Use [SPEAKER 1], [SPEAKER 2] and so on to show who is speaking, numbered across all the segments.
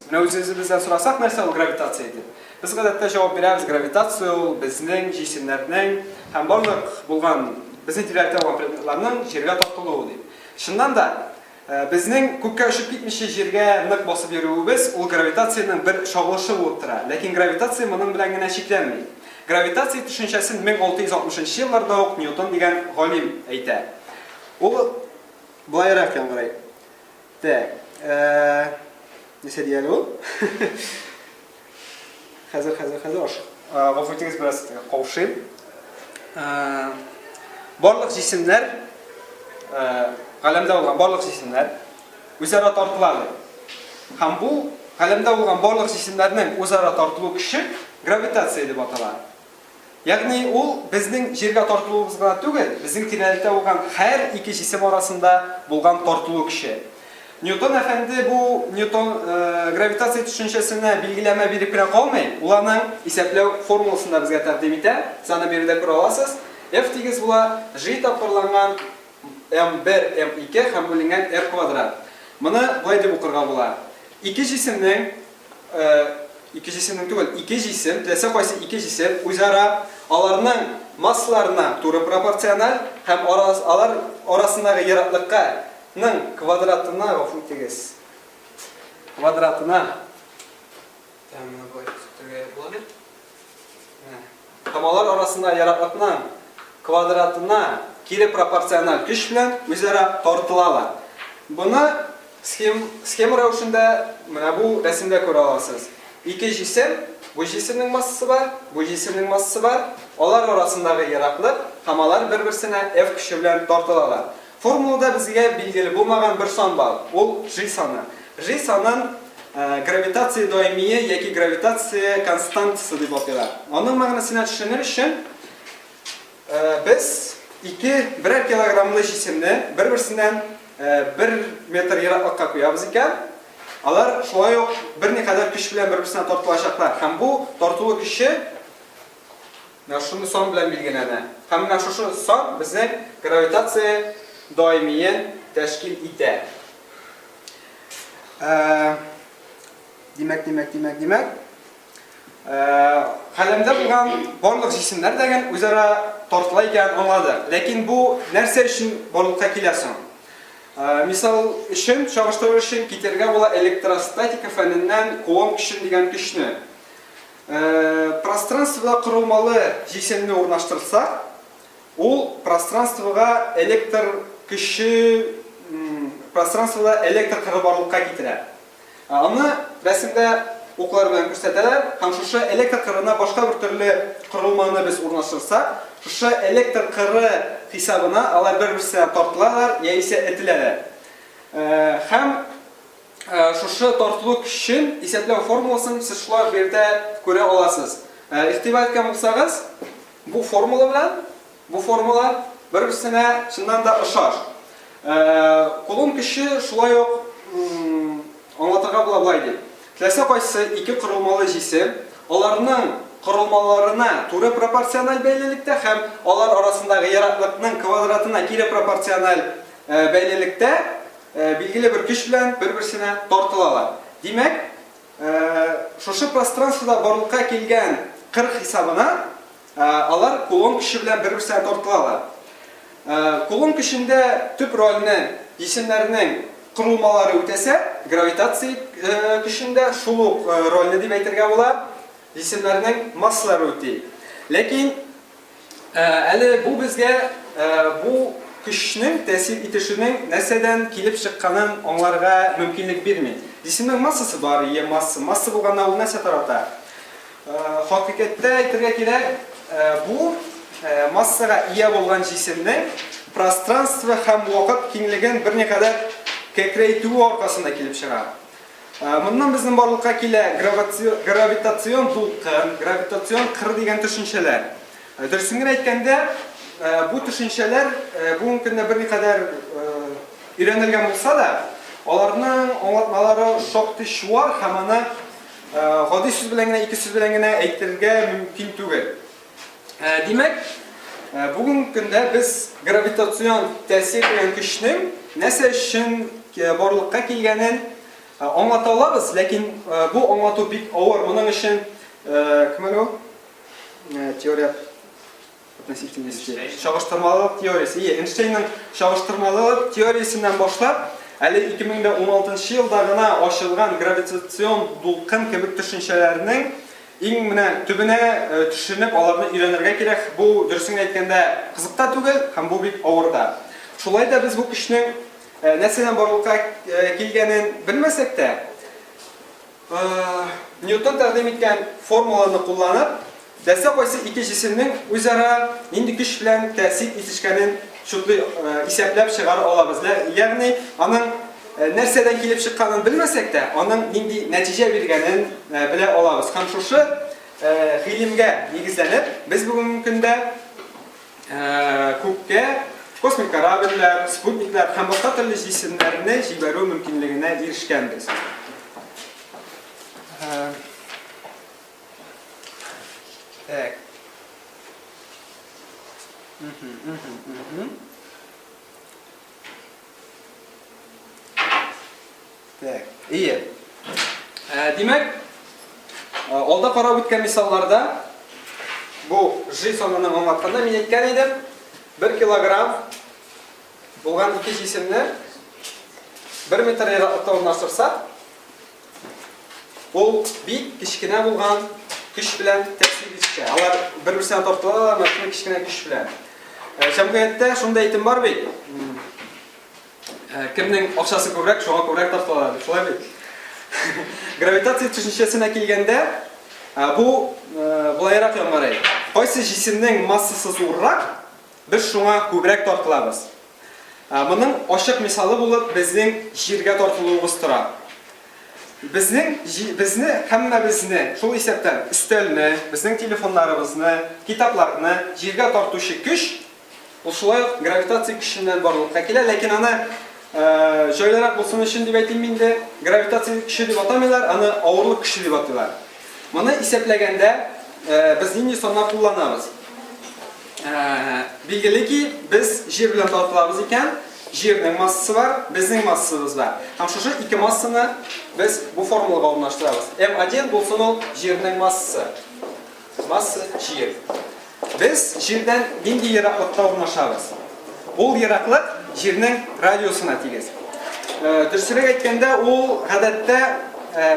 [SPEAKER 1] Менә үзегез бездән сорасак, нәрсә ул гравитация дип. Без гадәттә җавап бирәбез, гравитация ул безнең җисемнәрнең һәм барлык булган безнең тирәлектә булган предметларның җиргә тартылуы дип. Чыннан да, э, безнең күккә очып китмичә җиргә нык басып йөрүебез ул гравитациянең бер чагылышы булып тора. Ләкин гравитация моның белән генә чикләнми. Гравитация төшенчәсен 1660 елларда ук Ньютон дигән галим әйтә. Ул былайрак яңгырый. Так. Нәрсә ди әле ул? Хәзер, хәзер, хәзер аш. Гафу итегез, бераз каушыйм. Барлык җисемнәр, галәмдә булган барлык җисемнәр үзара тартылады. Һәм бу галәмдә булган барлык җисемнәрнең үзара тартылу көче гравитация дип атала. Ягъни ул безнең җиргә тартылуыбыз гына түгел, безнең тирәлектә булган һәр ике җисем арасында булган тартылу көче. Ньютон әфәнде бу Ньютон гравитация төшенчәсенә билгеләмә биреп кенә калмый, ул аның исәпләү формуласын да безгә тәкъдим итә. Сез аны биредә күрә аласыз. F тигез була G тапкырланган m1, m2 һәм бүленгән r квадрат. Моны болай дип укырга була. Ике җисемнең Ике җисемнең түгел, ике җисем, теләсә кайсы ике җисем үзара, аларның массаларына туры пропорциональ һәм алар арасындагы ераклыкка ның квадратына, гафу итегез, квадратына, Комалар арасында яраклыкның квадратына кире пропорциональ көч белән үзара тартылалар. Буны схем, схема рәвешендә менә бу рәсемдә күрә аласыз. Ике җисем, бу җисемнең массасы бар, бу җисемнең массасы бар. Алар арасындагы яраклык, комалар бер-берсенә F көче белән тартылалар. Формулада безгә билгеле булмаган бер сан бар, ул G саны. G санын гравитация даимие яки гравитация константасы дип атыйлар. Аның мәгънәсенә төшенер өчен, без ике берәр килограммлы җисемне бер-берсеннән бер метр ераклыкка куябыз икән, алар шулай ук берникадәр көч белән бер-берсенә тартылачаклар һәм бу тартылу көче, Менә шундый сан белән билгеләнә. Һәм менә шушы сан безнең гравитация даимиен тәшкил итә. Димәк, димәк, димәк, димәк. Хәлемдә булган барлык җисемнәр дә гел үзара тартыла икән аңлады. Ләкин бу нәрсә өчен барлыкка килә соң? Мисал өчен, чагыштырыр өчен китерергә була электростатика фәненнән кулон көчен дигән көчне. Пространствода корылмалы җисемне урнаштырсак, ул пространствога электр көче пространствода электр кыры барлыкка китерә. Аны рәсемдә уклар белән күрсәтәләр һәм шушы электр кырына башка бер төрле корылманы без урнаштырсак, шушы электр кыры хисабына алар бер-берсенә тартылалар яисә этеләләр. Һәм. Шушы тартлу көчен исәпләү формуласын сез шулай җирдә күрә аласыз. Игътибар иткән булсагыз, бу формула белән бу формула бер-берсенә чыннан да ошаш. Кулым көче шулай ук аңлатырга була болай дип. Теләсә кайсы ике корылмалы җисем аларның корылмаларына туры пропорциональ бәйлелектә һәм алар арасындагы ераклыкның квадратына кире пропорциональ бәйлелектә Билгеле бер көч белән бер-берсенә тартылалар. Димәк, шушы пространствода барлыкка килгән кыр хисабына алар кулон көче белән бер-берсенә тартылалар. Кулон көчендә төп рольне җисемнәрнең корылмалары үтәсә, гравитация көчендә шул ук рольне дип әйтергә була, җисемнәрнең массалары үти. Ләкин. Әле бу безгә бу көчнең тәэсир итешенең нәрсәдән килеп чыкканын аңларга мөмкинлек бирми. Җисемнең массасы бар, е масса. Масса булганда ул нәрсә тарата? Хакыйкатьтә әйтергә кирәк, бу массага ия булган җисемнең пространство һәм вакыт киңлеген берникадәр кәкрәйтүе аркасында килеп чыга. Ә, Моннан безнең барлыкка килә граваци- гравитацион дулкын, гравитацион кыр дигән төшенчәләр. Ә, Дөресен генә әйткәндә, ә, бу төшенчәләр ә, бүгенге көндә берникадәр ә, өйрәнелгән булса да, аларның аңлатмалары шактый чуар һәм аны ә, гади сүз белән генә, ике сүз белән генә әйтергә мөмкин түгел. Ә, димәк, ә, бүгенге көндә без гравитацион тәэсир дигән көчнең нәрсә өчен э, барлыкка килгәнен э, аңлата алабыз, ләкин э, бу аңлату бик авыр. Моның өчен кем әле ул? Теория относительности. Чагыштырмалылык теориясе. Ие, Эйнштейнның чагыштырмалылык теориясеннән башлап, әле 2016 елда гына ачылган гравитацион дулкын кебек төшенчәләрнең Иң менә төбенә төшенеп, аларны өйрәнергә кирәк. Бу, дөресен генә әйткәндә, кызык та түгел һәм бу бик авыр да. Шулай да без бу көчнең нәрсәдән барлыкка килгәнен белмәсәк тә, Ньютон тәкъдим иткән формуланы кулланып, теләсә кайсы ике җисемнең үзара нинди көч белән тәэсир итешкәнен чутлый исәпләп чыгара алабыз, ягъни аның Нәрсәдән килеп чыкканын белмәсәк тә, аның нинди нәтиҗә биргәнен белә алабыз. Һәм шушы гыйлемгә нигезләнеп, без бүгенге көндә күккә космик корабльләр, спутниклар һәм башка төрле җисемнәрне җибәрү мөмкинлегенә ирешкәнбез. Так. Так, ие. Ә, димәк, алда карап үткән мисалларда бу G санын аңлатканда мин әйткән идем, 1 килограмм булган ике җисемне 1 метр ераклыкта урнаштырсак, Ул бик кечкенә булган көч белән тәэсир итә. Алар бер-берсенә тартылалар, мәшинә кечкенә көч белән. Э, җәмгыятьтә шундай әйтем бар бит. Э, кемнең акчасы күбрәк, шуңа күбрәк тартылалар, шулай бит. Гравитация төшенчәсенә килгәндә, э, бу булайрак яңгырый. Кайсы җисемнең массасы зуррак, без шуңа күбрәк тартылабыз. Моның ачык мисалы булып безнең җиргә тартылуыбыз тора. Безнең, безне, һәммәбезне, шул исәптән өстәлне, безнең телефоннарыбызны, китапларны җиргә тартучы көч, ул шулай ук гравитация көченнән барлыкка килә, ләкин аны җайлырак булсын өчен дип әйтим инде, гравитация көче дип атамыйлар, аны авырлык көче дип атыйлар. Моны исәпләгәндә без нинди саннар кулланабыз? Билгеле ки, без җир белән талкылабыз икән, җирнең массасы бар, безнең массабыз бар. Һәм шушы ике массаны без бу формулага урнаштырабыз. М1 булсын ул җирнең массасы. Масса җир. Без җирдән нинди ераклыкта урнашабыз? Ул ераклык җирнең радиусына тигез. Дөресрәк әйткәндә, ул гадәттә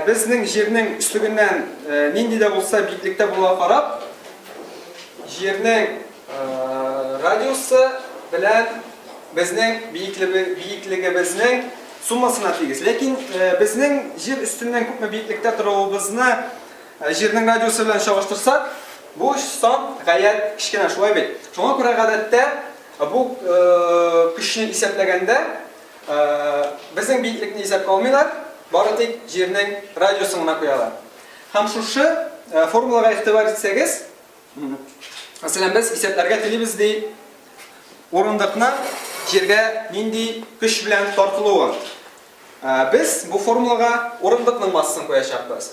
[SPEAKER 1] безнең җирнең өслегеннән нинди дә булса биеклектә булуга карап, Җирнең радиусы белән безнең биеклегебезнең суммасына тигез. Ләкин безнең җир өстеннән күпме биеклектә торуыбызны җирнең радиусы белән чагыштырсак, бу сан гаять кечкенә, шулай бит? Шуңа күрә гадәттә бу көчне исәпләгәндә безнең биеклекне исәпкә алмыйлар, бары тик җирнең радиусын гына куялар. Һәм шушы формулага игътибар итсәгез, мәсәлән, без исәпләргә телибез ди урындыкны җиргә нинди көч белән тартылуы. Без бу формулага урындыкның массасын куячакбыз.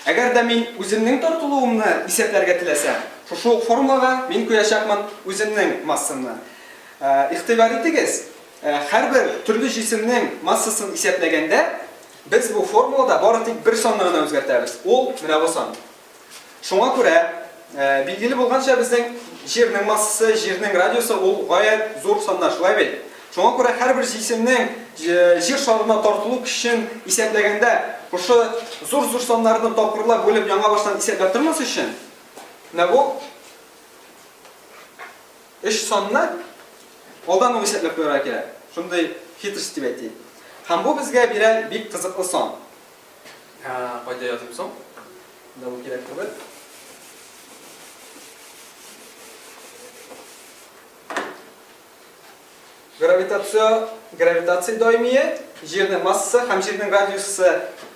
[SPEAKER 1] Әгәр дә мин үземнең тартылуымны исәпләргә теләсәм, шушы ук формулага мин куячакмын үземнең массамны. Игътибар итегез, һәрбер төрле җисемнең массасын исәпләгәндә, Без бу формулада бары тик бер санны гына үзгәртәбез, ул, менә бу сан. Шуңа күрә, билгеле булганча, безнең Җирнең массасы, Җирнең радиусы, ул гаять зур саннар, шулай бит? Шуңа күрә һәрбер җисемнең Җир шарына тартылу көчен исәпләгәндә, шушы зур-зур саннарны тапкырлап бүлеп яңа баштан исәпләп тормас өчен, менә бу, Өч санны алдан ук исәпләп куярга кирәк. Шундый хитрость дип әйтик. Һәм бу безгә бирә бик кызыклы сан. Кайда языйм соң? Менә бу кирәк түгел. Гравитация, гравитация даимие, җирнең массасы һәм җирнең радиусы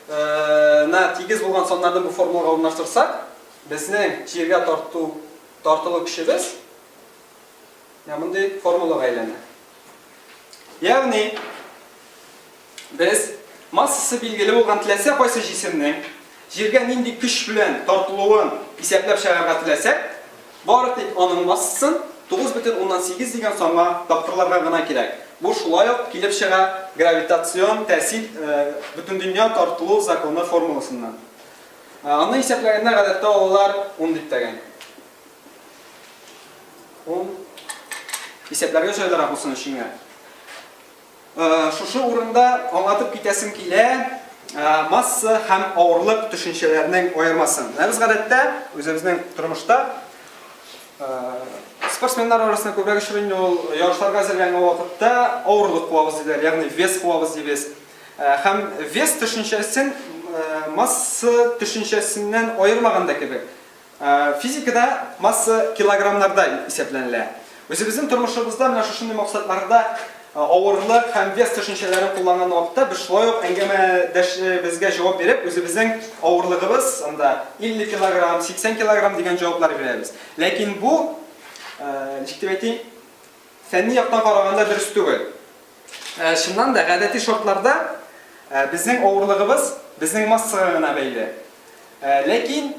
[SPEAKER 1] на тигез булган саннарны бу формулага урнаштырсак, безнең җиргә тарту тартылу көчебез менә мондый формулага әйләнә. Ягъни без массасы билгеле булган теләсә кайсы җисемнең җиргә нинди көч белән тартылуын исәпләп чыгарга теләсәк, бары тик аның массасын 9,8 дигән санга тапкырларга гына кирәк. Бу шулай ук килеп чыга гравитацион тәэсир бөтендөнья тартылу законы формуласыннан. Аны исәпләгәндә гадәттә алалар ун биттәген. Ун. Исәпләргә җайлырак булсын өченгә. Шушы урында аңлатып китәсем килә масса һәм авырлык төшенчәләренең аермасын. Без гадәттә үзебезнең тормышта спортсменнар арасында күбрәк очрый инде ул ярышларга әзерләнгән вакытта авырлык куабыз диләр, ягъни вес куабыз дибез. Һәм вес төшенчәсен масса төшенчәсеннән аермаган да кебек. Физикада масса килограммнарда исәпләнелә. Үзебезнең тормышыбызда менә шушындый максатларда авырлык һәм вес төшенчәләрен кулланган вакытта без шулай ук әңгәмәдәшебезгә җавап биреп, үзебезнең авырлыгыбыз анда 50 килограмм, 80 килограмм дигән җаваплар бирәбез. Ләкин бу, ничек дип әйтим, Фәнни яктан караганда дөрес түгел. Чыннан да, гадәти шартларда безнең авырлыгыбыз безнең массага гына бәйле. Ләкин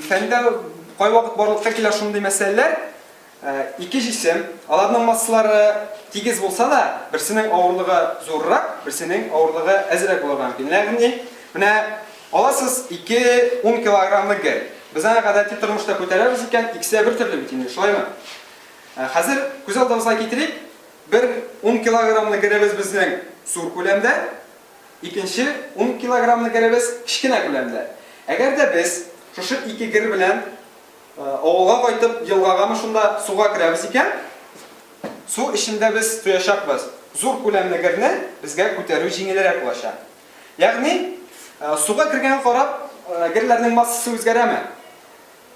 [SPEAKER 1] фәндә кайвакыт барлыкка килә шундый мәсьәләләр, ике җисем, аларның массалары тигез булса да, берсенең авырлыгы зуррак, берсенең авырлыгы әзрәк булырга мөмкин. Ягъни, менә аласыз ике ун килограммлы гер. Без аны гадәти тормышта күтәрәбез икән, икесе дә бертөрле бит инде, шулаймы? Ә хәзер күз алдыбызга китерик, бер ун килограммлы геребез безнең зур күләмдә, икенче ун килограммлы геребез кечкенә күләмдә. Әгәр дә без шушы ике гер белән авылга кайтып, елгагамы шунда суга керәбез икән, су эчендә без тоячакбыз. Зур күләмле герне безгә күтәрү җиңелрәк булачак. Ягъни, суга кергәнгә карап, герләрнең массасы үзгәрәме?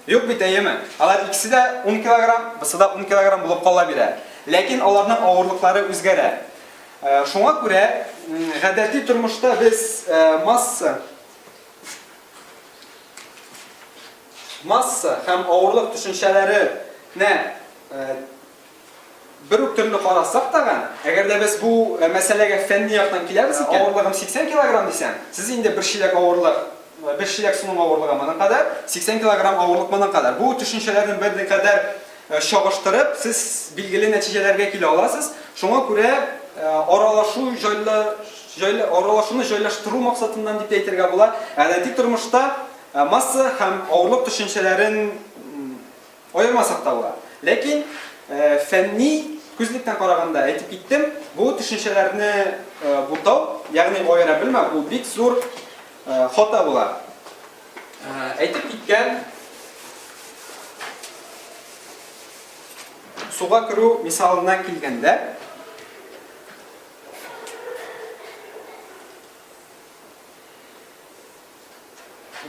[SPEAKER 1] Юк бит, әйеме? Алар икесе дә ун килограмм, бусы да ун килограмм булып кала бирә. Ләкин аларның авырлыклары үзгәрә. Шуңа күрә гадәти тормышта без масса масса һәм авырлык төшенчәләренә Бер үк төрле карасак тагын, әгәр дә без бу мәсьәләгә фәнни яктан киләбез икән, авырлыгым 80 килограмм дисәм, сез инде бер чиләк авырлык, бер чиләк суның авырлыгы моның кадәр, 80 килограмм авырлык моның кадәр. Бу төшенчәләрне берникадәр чагыштырып, сез билгеле нәтиҗәләргә килә аласыз. Шуңа күрә аралашу җайлы, җайлы, аралашуны җайлаштыру максатыннан дип тә әйтергә була, гадәти тормышта масса һәм авырлык төшенчәләрен Аермасак та була. Ләкин фәнни күзлектән караганда, әйтеп киттем, бу төшенчәләрне бутау, ягъни аера белмәү, ул бик зур хата була. Әйтеп киткән суга керү мисалына килгәндә,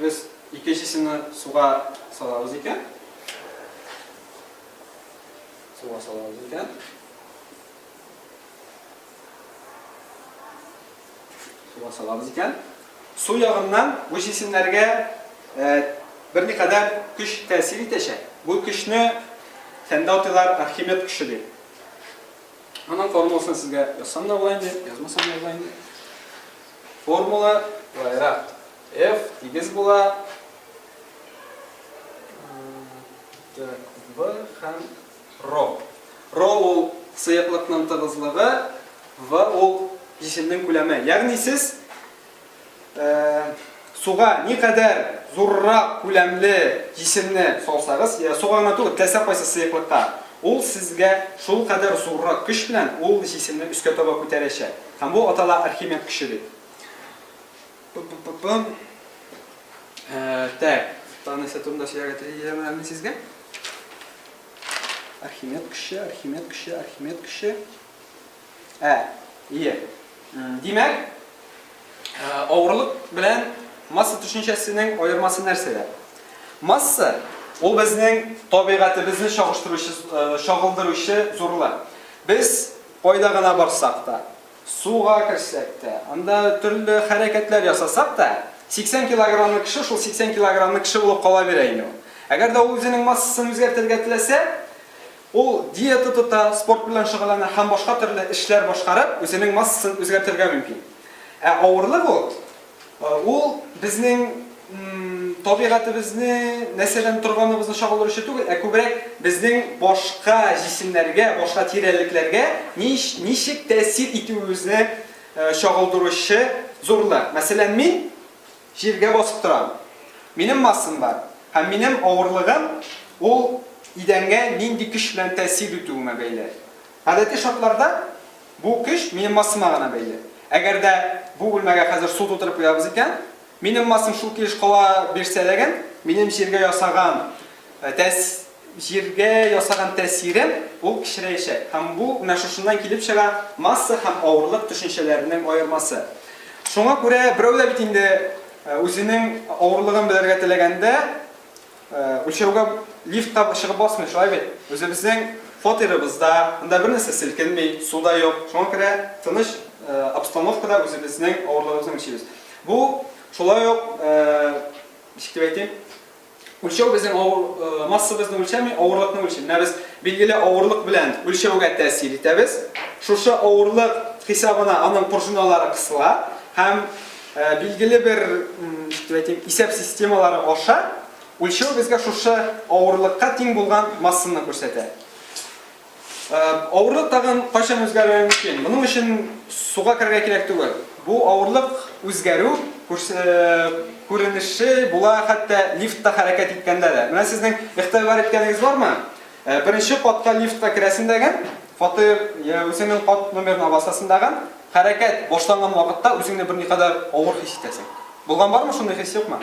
[SPEAKER 1] Без икенчесенә суга салабыз икән. Суга салабыз икән. Суга салабыз икән. Су ягыннан бу җисемнәргә бер никадәр көч тәэсир итәчәк. Бу көчне фәндәүтилар Архимед көче дип Аның формуласын сезгә язсам да була инде, язмасам да була инде. Формула былайрак. F тигез була B һәм ро. Ро ул сыеклыкның тыгызлыгы, V ул җиселнең күләме. Ягъни сез суга ни кадәр зуррак күләмле җисемне салсагыз, я суга гына түгел, теләсә кайсы сыеклыкка, ул сезгә шул кадәр зуррак көч белән ул җисемне өскә таба күтәрәчәк. Һәм бу атала Архимед көче дип. Так, тагын нәрсә турында сөйләргә теләдем әле сезгә? Архимед көче, Архимед көче, Архимед көче. Ә, ие. Димәк, авырлык белән масса төшенчәсенең аермасы нәрсәдә? Масса ул безнең табигатебезне чагыштыручы, чагылдыручы зурлык. Без кайда гына барсак та, суга керсәк тә, анда төрле хәрәкәтләр ясасак та, 80 килограммлы кеше шул 80 килограммлы кеше булып кала бирә инде ул. Әгәр дә ул үзенең массасын үзгәртергә теләсә, Ул диета тота, спорт белән шөгыльләнә һәм башка төрле эшләр башкарып, үзенең массасын үзгәртергә мөмкин. Ә авырлык ул, ул безнең табигатебезне, нәрсәдән торганыбызны чагылдыручы түгел, ә күбрәк безнең башка җисемнәргә, башка тирәлекләргә ничек тәэсир итүебезне чагылдыручы зурлык. Мәсәлән, мин. Җиргә басып торам. Минем массам бар, һәм минем авырлыгым ул идәнгә нинди көч белән тәэсир итүемә бәйле. Гадәти шартларда бу көч минем массама гына бәйле. Әгәр дә бу бүлмәгә хәзер су тутырып куябыз икән, минем массам шул килеш кала бирсә ләген, минем җиргә ясаган тәэс. Җиргә ясаган тәэсире ул кечерәячәк һәм бу менә шушыннан килеп чыга, масса һәм авырлык төшенчәләренең аермасы. Шуңа күрә берәү дә бит инде үзенең авырлыгын белергә теләгәндә үлчәүгә лифтка чыгып басмый, шулай бит? Үзебезнең фатирыбызда, анда бернәрсә селкенми, су да юк, шуңа күрә тыныч обстановкада үзебезнең авырлыгыбызны үлчибез. Бу шулай ук, ничек дип әйтим, Үлчәү безнең авыр, э, массабызны үлчәми, авырлыкны үлчи. Менә без билгеле авырлык белән үлчәүгә тәэсир итәбез. Шушы авырлык хисабына аның пружиналары кысыла һәм э, билгеле бер әйтим, исәп системалары аша үлчәү безгә шушы авырлыкка тиң булган массаны күрсәтә. Авырлык тагын кайчан үзгәрергә мөмкин? Моның өчен суга керергә кирәк түгел. Бу авырлык үзгәрү күренеше була хәтта лифтта хәрәкәт иткәндә дә. Менә сезнең игътибар иткәнегез бармы? Беренче катка лифтта керәсен дәген, фатир я үзеңнең кат номерына басасың дагын, хәрәкәт башланган вакытта үзеңне берникадәр авыр хис итәсең. Булган бармы шундый хис, юкмы?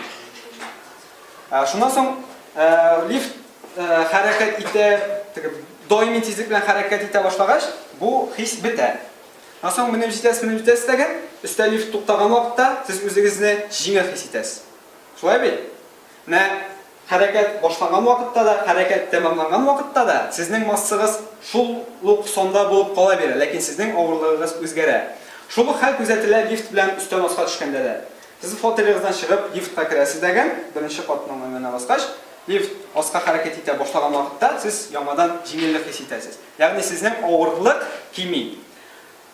[SPEAKER 1] Ә, шуннан соң ә, лифт ә, хәрәкәт итә, теге даими тизлек белән хәрәкәт итә башлагач, бу хис бетә. Шуннан соң менеп җитәсез, менеп җитәсез тәгәр, өстә лифт туктаган вакытта сез үзегезне җиңел хис итәсез. Шулай бит? Менә хәрәкәт башланган вакытта да, хәрәкәт тәмамланган вакытта да сезнең массагыз шул ук санда булып кала бирә, ләкин сезнең авырлыгыгыз үзгәрә. Шул ук хәл күзәтелә лифт белән өстән аска төшкәндә дә. Сез фотелегыздан чыгып, лифтка керәсез дәгән, беренче катның өенә баскач, лифт аска хәрәкәт итә башлаган вакытта, сез яңадан җиңеллек хис итәсез. Ягъни сезнең авырлык кими.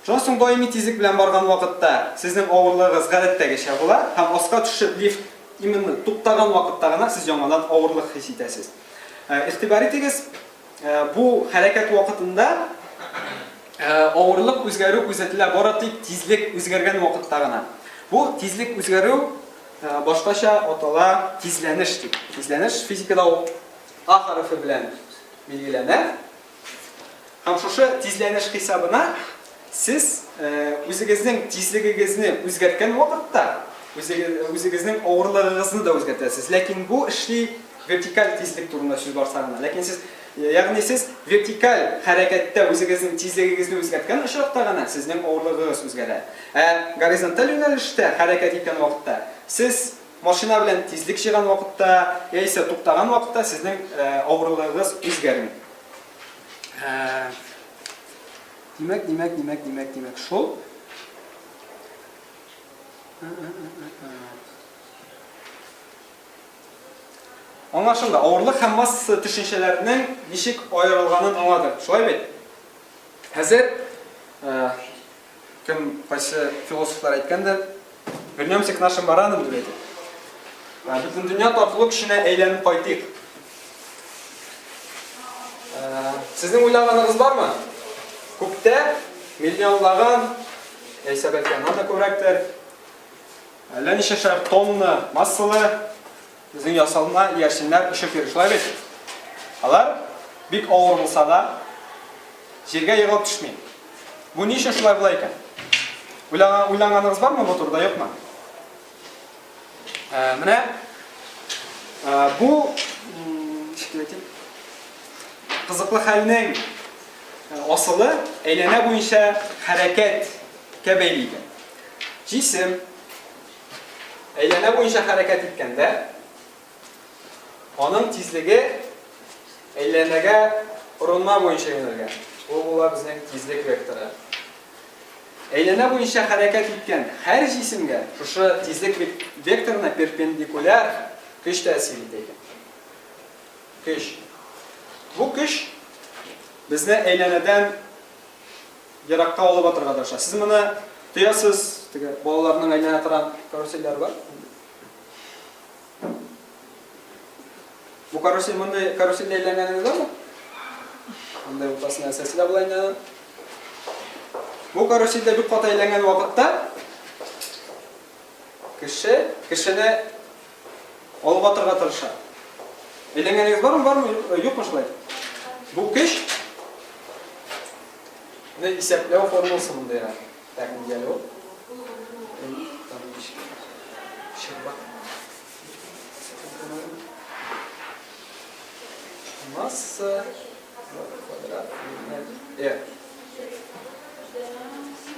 [SPEAKER 1] Шуннан соң даими тизлек белән барган вакытта, сезнең авырлыгыгыз гадәттәгечә була, һәм аска төшеп, лифт именно туктаган вакытта гына сез яңадан авырлык хис итәсез. Игътибар итегез! Бу хәрәкәт вакытында авырлык үзгәрү күзәтелә, бары тик тизлек үзгәргән вакытта гына. Бу тизлек үзгәрү башкача атала, тизләнеш дип. Тизләнеш физикада ул А хәрефе белән билгеләнә. Һәм шушы тизләнеш хисабына Сез үзегезнең тизлегегезне үзгәрткән вакытта, үзегезнең авырлыгыгызны да үзгәртәсез. Ләкин бу эшли вертикаль тизлек турында сүз барса гына. Ләкин сез, ягъни сез вертикаль хәрәкәттә үзегезнең тизлегегезне үзгәрткән очракта гына сезнең авырлыгыгыз үзгәрә. Ә горизонталь юнәлештә хәрәкәт иткән вакытта, сез машина белән тизлек җыйган вакытта яисә туктаган вакытта сезнең авырлыгыгыз үзгәрми. Димәк, димәк, димәк, димәк, димәк, шул. Аңлашылды. Авырлык һәм масса төшенчәләренең ничек аерылганын аңлады. Шулай бит? Хәзер кем кайсы философлар әйткәндер, Вернемся к нашим баранам, диләр. Ә, Бөтендөнья татулык көченә әйләнеп кайтыйк. Ә, Сезнең уйлаганыгыз бармы? Күктә миллионлаган, яисә бәлки аннан да күбрәктер, әллә ничәшәр тонна массалы Үзең ясалма иярченнәр очып йөри, шулай бит? Алар, бик авыр булса да, җиргә егылып төшми. Бу ни өчен шулай була икән? Уйланганыгыз бармы бу турыда, юкмы? Ә, менә ә, бу кызыклы хәлнең асылы әйләнә буенча хәрәкәткә бәйле икән. Җисем Әйләнә буенча хәрәкәт иткәндә, аның тизлеге әйләнәгә урынма буенча юнәлгән. Ул була безнең тизлек векторы. Әйләнә буенча хәрәкәт иткән һәр җисемгә шушы тизлек векторына перпендикуляр көч тәэсир итә икән. Көч. Бу көч безне әйләнәдән еракка алып атырга тырыша. Сез моны тоясыз, теге балаларның әйләнә торган карусельләре бар. Бу карусель мондый карусель әйләнгәнегез бармы? Мондый уртасына сәсилә була инде. Бу карусельдә бик каты әйләнгән вакытта кеше кешене алып атырга тырыша. Әйләнгәнегез бармы, бармы, юкмы шулай? Бу көч не исәпләү формуласы монда яра. Так, нигәле ул? Масса квадрат. Э.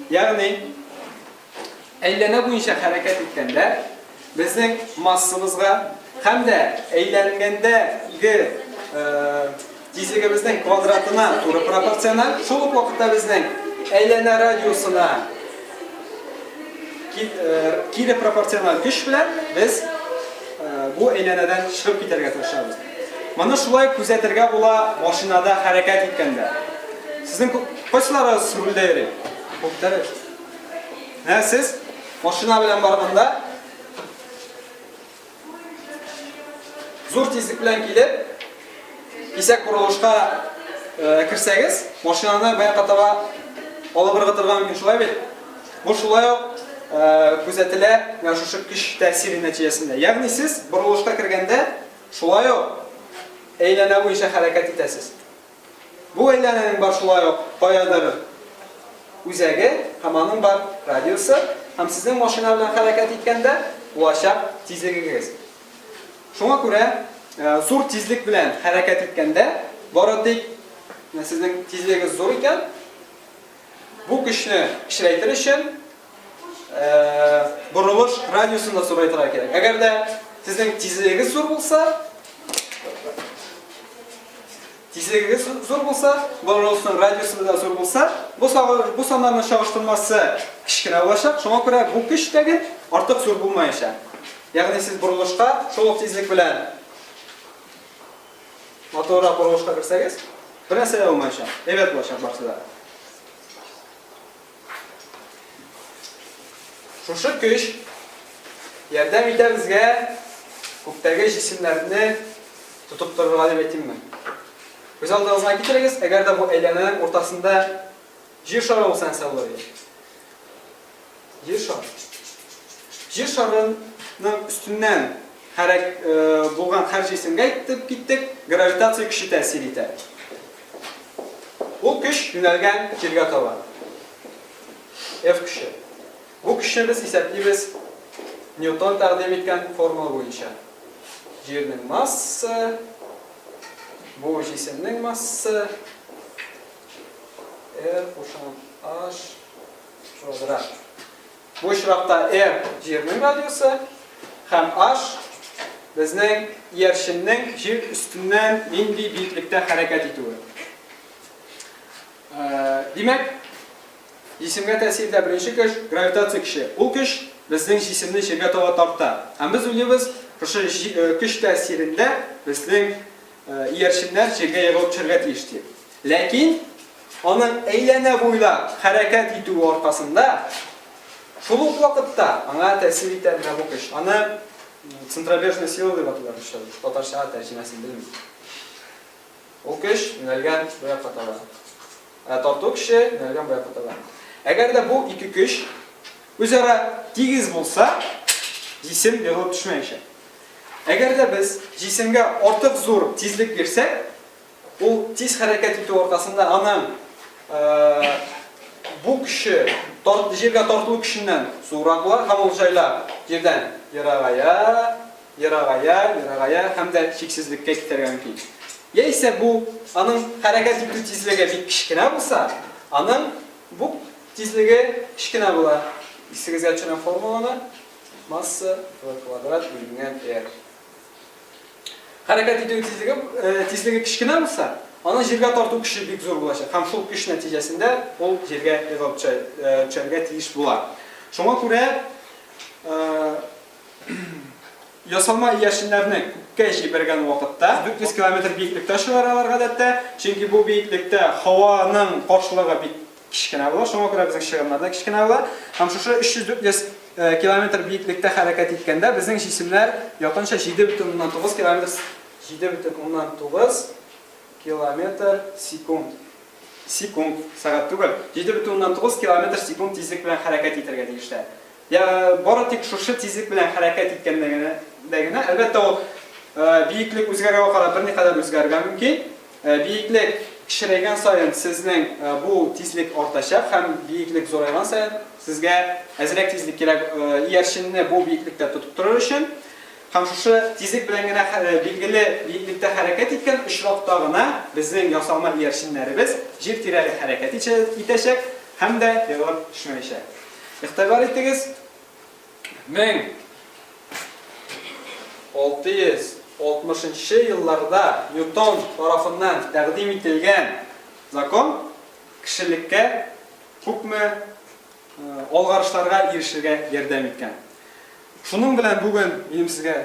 [SPEAKER 1] Ягъни Әйләнә буенча хәрәкәт иткәндә, безнең массабызга һәм дә әйләнгәндә ге тизлегебезнең квадратына туры пропорциональ, шул ук вакытта безнең әйләнә радиусына кире пропорциональ көч белән без бу әйләнәдән чыгып китәргә тырышабыз. Моны шулай күзәтергә була машинада хәрәкәт иткәндә. Сезнең кайсыларыгыз рульдә йөри? Күптәр. Ә сез машина белән барганда зур тизлек белән килеп, кисәк борылышка э, керсәгез, машинаны баянга таба алып ыргытырга мөмкин, шулай бит? Бу шулай ук э, күзәтелә менә шушы көч тәэсире нәтиҗәсендә. Ягъни сез борылышка кергәндә шулай ук әйләнә буенча хәрәкәт итәсез. Бу әйләнәнең бар шулай ук каядыр үзәге һәм аның бар радиусы һәм сезнең машина белән хәрәкәт иткәндә булачак тизлегегез. Шуңа күрә зур тизлек белән хәрәкәт иткәндә бары тик сезнең тизлегегез зур икән, Бу көчне кечерәйтер өчен борылыш радиусын да зурайтырга кирәк. Әгәр дә сезнең тизлегегез зур булса, тизлегегез зур булса, борылышның радиусы да зур булса, бу бу саннарның чагыштырмасы кечкенә булачак. Шуңа күрә бу көч тәген артык зур булмаячак. Ягъни сез борылышка шул тизлек белән Матуррак борылышка керсәгез, бер нәрсә дә булмаячак. Әйбәт булачак барысы да. Шушы көч ярдәм итә безгә күктәге җисемнәрне тотып торырга дип әйтимме. Күз алдыгызга китерегез, әгәр дә бу әйләнәнең уртасында Җир шары ул сәнсәвори. Җир шары. Җир шарының өстеннән хәрәк булган хәр җисемгә итеп киттек, гравитация көче тәэсир итә. Ул көч юнәлгән җиргә таба. F көче. Бу көчне без исәплибез Ньютон тәкъдим иткән формула буенча. Җирнең массы, бу җисемнең массы, R кушам H квадрат. Бу очракта R җирнең радиусы һәм H безнең иярченнең җир өстеннән нинди биеклектә хәрәкәт итүе. Э, димәк, җисемгә тәэсирдә беренче көч гравитация көче. Ул көч безнең җисемне җиргә таба тарта. Һәм без уйлыйбыз, шушы э, көч тәэсирендә безнең Иярченнәр җиргә егылып төшәргә тиеш ди. Ләкин аның әйләнә буйлап хәрәкәт итүе аркасында, шул ук вакытта аңа тәэсир итә менә бу көч. Аны центробежная сила дип атыйлар русча, татарчага тәрҗемәсен белмим. Ул көч юнәлгән бу якка таба. Ә тарту көче юнәлгән бу якка таба. Әгәр дә бу ике көч Үзара тигез булса, җисем егылып төшмәячәк. Әгәр дә без җисемгә артык зур тизлек бирсәк, ул тиз хәрәкәт итү аркасында аның бу көче җиргә тартылу көченнән зуррак була һәм ул җайлап җирдән ерагая, ерагая, ерагая һәм дә чиксезлеккә китәргә мөмкин. Яисә бу аның хәрәкәт итү тизлеге бик кечкенә булса, аның бу Тизлеге кечкенә була. Исегезгә төшерәм формуланы, масса v квадрат бүленгән r. Хәрәкәт итү тизлеге, тизлеге кечкенә булса, аның җиргә тарту көче бик зур булачак. Һәм шул көч нәтиҗәсендә ул җиргә егылып төшәргә тиеш була. Шуңа күрә ясалма иярченнәрне күккә җибәргән вакытта 400 километр биеклектә очалар алар гадәттә, чөнки бу биеклектә һаваның каршылыгы бик Кечкенә була, шуңа күрә безнең чыгымнар да кечкенә була. Һәм шушы 300-400 километр биеклектә хәрәкәт иткәндә безнең җисемнәр якынча 7,9 километр 7,9 километр секунд. Секунд, сәгать түгел. 7,9 километр секунд тизлек белән хәрәкәт итәргә тиешләр. Я бары тик шушы тизлек белән хәрәкәт иткәндә генә, әлбәттә, ул биеклек үзгәрүгә карап берникадәр үзгәрергә мөмкин. Биеклек кечерәйгән саен сезнең бу тизлек артачак һәм биеклек зурайган саен сезгә әзрәк тизлек кирәк иярченне бу биеклектә тотып торыр өчен. Һәм шушы тизлек белән генә билгеле биеклектә хәрәкәт иткән очракта гына безнең ясалма иярченнәребез җир тирәли хәрәкәт итәчәк һәм дә егылып төшмәячәк. Игътибар итегез! 1660 нчы елларда Ньютон тарафыннан тәкъдим ителгән закон кешелеккә күпме алгарышларга ирешергә ярдәм иткән. Шуның белән бүген минем сезгә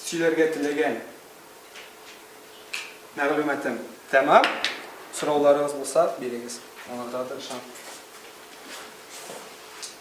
[SPEAKER 1] сөйләргә теләгән мәгълүматым тәмам. Сорауларыгыз булса, бирегез. Аңлатырга тырышам.